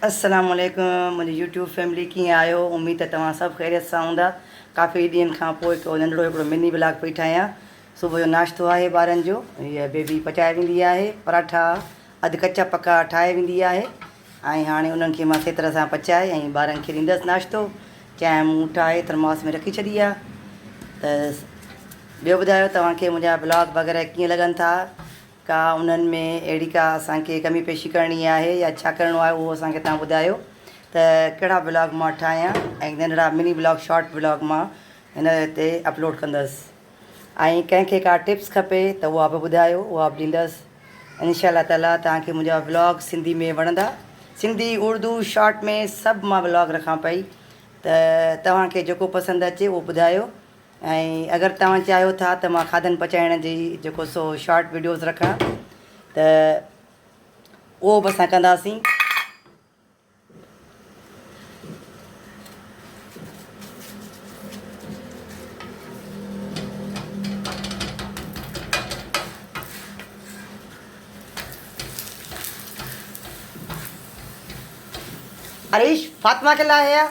السلام عليڪم منهنجي يوٽيوب فيملي ڪيئن آهيو اميد ته توهان سڀ خيريت سان هوندا ڪافي ڏينهن کان پوء هڪ ننڍڙو هڪڙو مني بلاگ پئي ٺاهيان صبح جو ناشتو آهي ٻارن جو هيء بيبي پچائي ويندي آهي پراٺا اڌ ڪچا پڪا ٺاهي ويندي آهي ۽ هاڻي انهن کي مان سهي طرح سان پچائي ۽ ٻارن کي ڏيندس ناشتو چانهه مون ٺاهي ٿرماس ۾ رکي ڇڏي آهي ته ٻيو ٻڌايو توهان کي منهنجا بلاگ وغيره ڪيئن لڳن ٿا ڪا انهن ۾ اهڙي ڪا اسان کي ڪمي پيشي ڪرڻي آهي يا ڇا ڪرڻو آهي اهو اسان کي توهان ٻڌايو ته ڪهڙا بلاگ مان ٺاهيان ۽ ننڍڙا مني بلاگ شارٽ بلاگ مان هن تي اپلوڊ ڪندس. ۽ ڪنهن کي ڪا ٽپس کپي ته اها به ٻڌايو اها به ڏيندس انشاء الله تعالي توهان کي منهنجا ولاگ سنڌي ۾ وڻندا سنڌي اردو شارٽ ۾ سڀ مان ولاگ رکان پئي ته توهان کي جيڪو پسند اچي اهو ٻڌايو ۽ اگر توهان چاهيو ٿا ته مان کاڌن پچائڻ جي جيڪو سو شارٽ ويڊيوز رکان ته اهو به اسان ڪنداسين اريش فاطمه کي لاء هي آ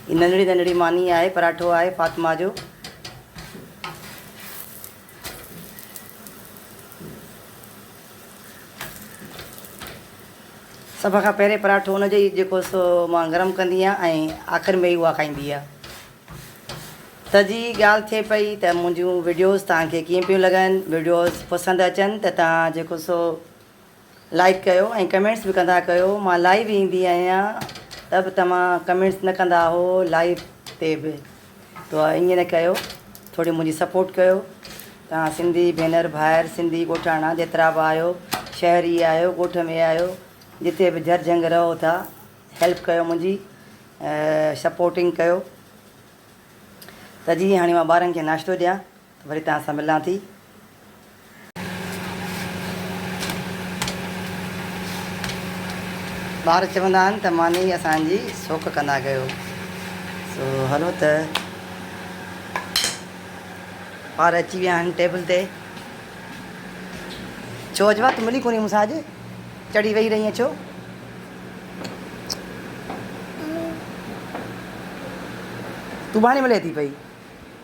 هي ننڍڙي ننڍڙي ماني آهي پراٺو آهي فاطمه جو. سڀ کان پهرين پراٺو ان جو جيڪو سو مان گرم ڪندي آهيان ۽ آخر ۾ ئي اها کائيندي آهي. ته جي ڳالهه ٿئي پئي ته منهنجون وڊيوز توهان کي ڪيئن پيون لڳن وڊيوز پسند اچن ته توهان جيڪو سو لائيڪ ڪيو ۽ ڪمينٽس به ڪندا ڪيو مان لائيو ايندي آهيان ته به توهان ڪمينٽس نه ڪندا هو لائيو تي به تو ايئن نه ڪيو ٿوري منهنجي سپورٽ ڪيو توهان سنڌي ڀينر ڀائر سنڌي ڳوٺاڻا جيترا به آهيو شهري آهيو ڳوٺ ۾ آهيو جتي به جھر جھنگ رهو ٿا هيلپ ڪيو منهنجي سپورٽنگ ڪيو ته جي هاڻي مان ٻارن کي ناشتو ڏيان وري توهان سان ملان ٿي. ٻار چوندا آهن ته ماني اسان جي سوڪ ڪندا ڪيو سو هلو ته ٻار اچي ويا آهن ٽيبل تي. ڇو اجوا تون ملي ڪونهي مون سان اڄ چڙي ويهي رهي آهين ڇو؟ تون ٻانهي ملي ٿي پئي.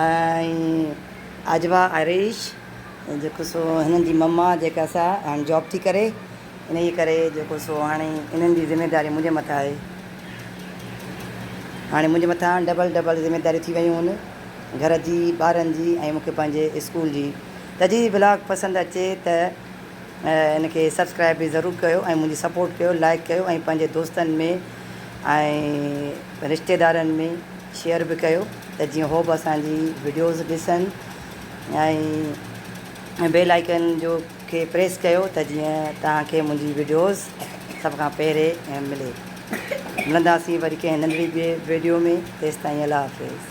۽ عاجبا آريش جيڪو سو هنن جي مما جيڪا سا هاڻي جاب ٿي ڪري انهي ڪري جيڪو سو هاڻي انهن جي ذميداري منهنجي مٿان آهي هاڻي منهنجي مٿان ڊبل ڊبل ذميداريون ٿي ويون هن گهر جي ٻارن جي ۽ مونکي پنهنجي اسڪول جي ته جي بلاگ پسند اچي ته انکي سبسڪرائب به ضرور ڪيو ۽ منهنجي سپورٽ ڪيو لائڪ ڪيو ۽ پنهنجي دوستن ۾ ۽ رشتيدارن ۾ شيئر به ڪيو ته جيئن هو به اسانجي وڊيوز ڏسن ۽ بيل آئيڪن جو کي پريس ڪيو ته جيئن توهان کي منهنجي وڊيوز سڀ کان پهرين ملي ملنداسين وري ڪنهن ننڍڙي ٻي ويڊيو ۾ تيستائين الله حافظ.